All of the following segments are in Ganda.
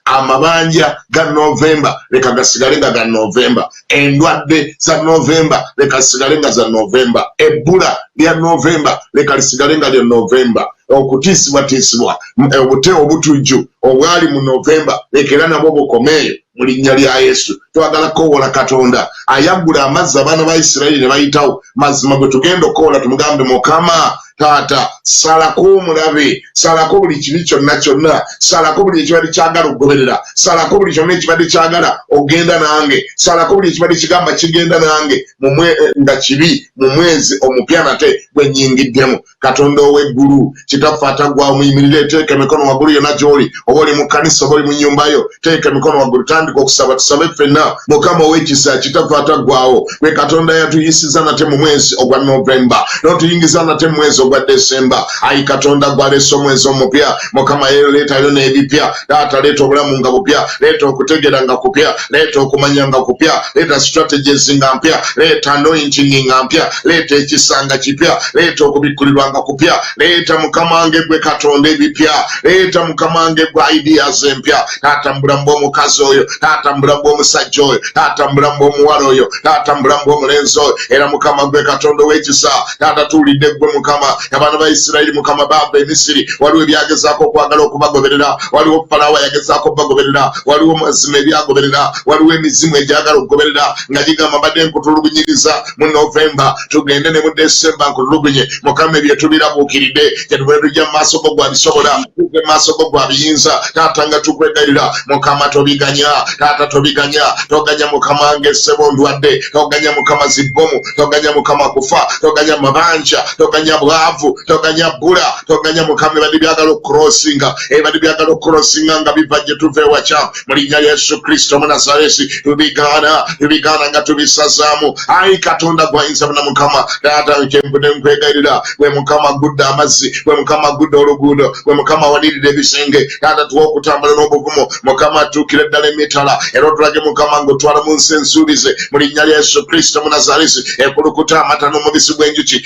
amabanja ga novemba leka gasigale nga ga novemba endwadde za novemba leka zisigale nga za novemba ebbula lya novemba leka lisigale nga lya novemba okutiisibwatiisibwa eh, obute obutujju obwali mu novemba leka era nabwo bukomeeyo mu linnya lya yesu twagala kukowoola katonda ayaggula amazzi abaana ba isirairi ne bayitawo mazima gwe tugenda okukowoola tumugambe mukama taata salako omulabe salako buli kibi kyonna kyonna salako buli ekibadde kyagala okugoberera salako buli kyonna ekibadde kyagala okugenda nange salako buli ekibadde kigamba kigenda nange mumwe eh, nga kibi mu mwezi omupya nate gwenyingiddemu katonda ow'eggulu kitaffe atagwa omuyimirire eteeka emikono waggulu yonna gy'oli oba oli mu kkanisa oba oli mu nnyumba yo teeka emikono waggulu tandika okusaba tusabe ffenna mukama ow'ekisa kitakwata ggwawo gwe katonda yatuyisiza nate mu mwezi ogwa novemba n'otuyingiza nate mu mwezi ogwa desemba ayi katonda gwaleesa omwezi omupya mukama yeero leetayo n'ebipya taata leeta obulamu nga bupya leeta okutegeera nga kupya leeta okumanya nga kupya leeta strategies nga mpya leeta anointing nga mpya leeta ekisa nga kipya leeta okubikkulirwa nga kupya leeta mukamange gwe katonda ebipya leeta mukamange gwe ideas empya taata mubulamu bw'omukazi oyo taata mubulamu bw'omusajja oyo taata mubulamu bw'omuwala oyo taata mubulamu bw'omulenzi oyo era mukama gwe katonda ow'ekisa taata tuwulidde gwe mukama abaana ba isirayiri mukama baava emisiri waliwo ebyagezaako okwagala okubagoberera waliwo falawo yagezaako okubagoberera waliwo mazima ebyagoberera waliwo emizimu egyagala okugoberera nga gigamba mbadde nkutulugunyiriza mu novemba tugende ne mu desemba nkulugunye mukama ebyo tubirabuukiride kyetuvule tujja mu maaso go gwabisobola tuge mu maaso go gwabiyinza taata nga tukwegalira mukama tobiganya taata tobiganya toganya mukama ngesebo ndwadde toganya mukama zibbomu toganya mukama kufa toganya mabanja toganya bwavu toganya bula toganya mukama ebadde byagala okurosinga ebadde byagala okurosinga nga biva gye tuva ewakyamu mu linnya lya yesu kristo munazaresi tubigaana tubigaana nga tubisazaamu ayi katonda gwayinza buna mukama taata kyempude nkwegayirira gwe mukama gudde amazzi gwe mukama gudde oluguudo gwe mukama walirira ebisenge taata tuwa okutambula n'obuvumu mukama atuukire ddala emitala era otulage mukama ngaotwala mu nsi ensuubize mu linnya lya yesu kristo munazaresi ekulukuta amata n'omubisi gw'enjuki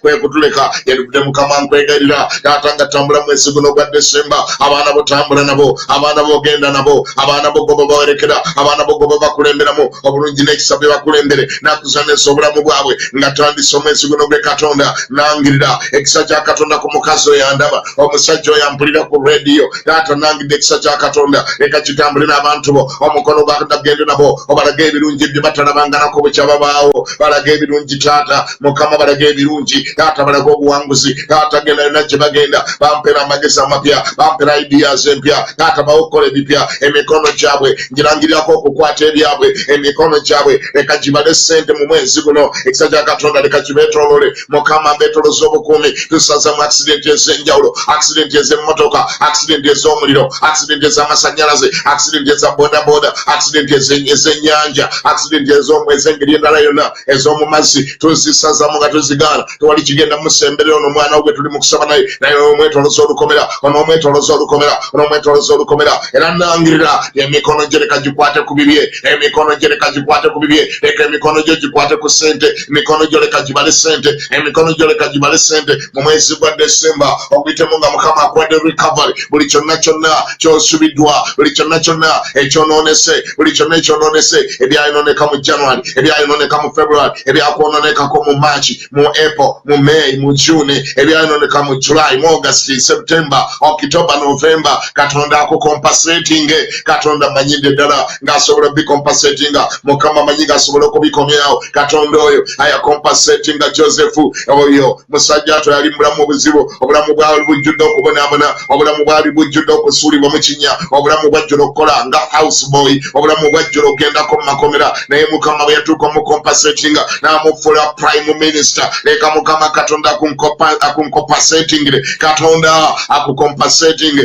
kwekutuleka yalivudde mukama nkwegalira taata nga tambula mwezi guno ogwa desemba abaana bo tambula nabo abaana bo ogenda nabo abaana bo goba bawerekera abaana bo goba bakulemberamu obulungi n'ekisa bye bakulembere nakuzanesa obulamu bwabwe nga tandisa omwezi guno gwe katonda nangirira ekisa kya katonda ku mukazi oyo andaba omusajja oyo ampulira ku rediyo taata nangidde ekisa kya katonda leka kitambule n'abantu bo omukono gwakadagende nabo obalaga ebirungi bye batalabanganaku bukya babaawo balaga ebirungi taata mukama balaga ebirungi taata balaga obuwanguzi taata genda yona gye bagenda bampera amagezi amapya bampera ideas empya taata bawo okukola ebipya emikono gyabwe ngirangirirako okukwata ebyabwe emikono gyabwe leka gibale sente mu mwezi guno ekisa kya katonda leka kibetolole mukama mbetoloza obukuumi tusaza mu akisidenti ezenjawulo akisidenti ezemotoka akisidenti ezomuliro akisidenti ezamasanyalaze akisidenti eza bodaboda akisidenti ezenyanja akisidenti ezengeri endala yona ez'omu mazzi tuzisazamu nga tuzigaana tewali kigenda musemberera ono omwana wo gwe tuli mu kusaba naye naye omwetoloza olukomera ono omwetoloza olukomera ono omwetoloza olukomera era nangirira emikono gye leka gikwate ku bibye emikono gye leka gikwate ku bibye leka emikono gyo gikwate ku sente emikono gyo leka gibale sente emikono gyo leka gibale sente mu mwezi gwa desemba oguyitemu nga mukama akuwadde recovery buli kyonna kyonna kyosubiddwa buli kyonna kyonna ekyonoonese buli kyonna ekyonoonese ebyayonooneka mu january ebyayonooneka mu february ebyakwononekako mu march mu april mu may mu june ebyayonooneka mu july mu august september october november katonda akukompasatinge katonda manyidde ddala ng'asobola obikompasetinga mukama manyi ng'asobola okubikomyawo katonda oyo ayakompasetinga josefu oyo musajja ato yali mubulamu obuzibu obulamu bwali bujjudde okubonabona obulamu bwali bujjudde okusuulibwa mu kinya obulamu bwajjula okukola nga house boy obulamu bwajjula ogendako mu makomera naye mukama bwe yatuuka omukompasetinga n'amufuula prime minister leka mukama katonda akunkompasetingire katonda akukompasetinge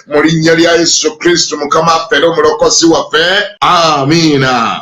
mu linnya lya Yesu Kristo Mukama waffe era omulokozi waffe. Amiina.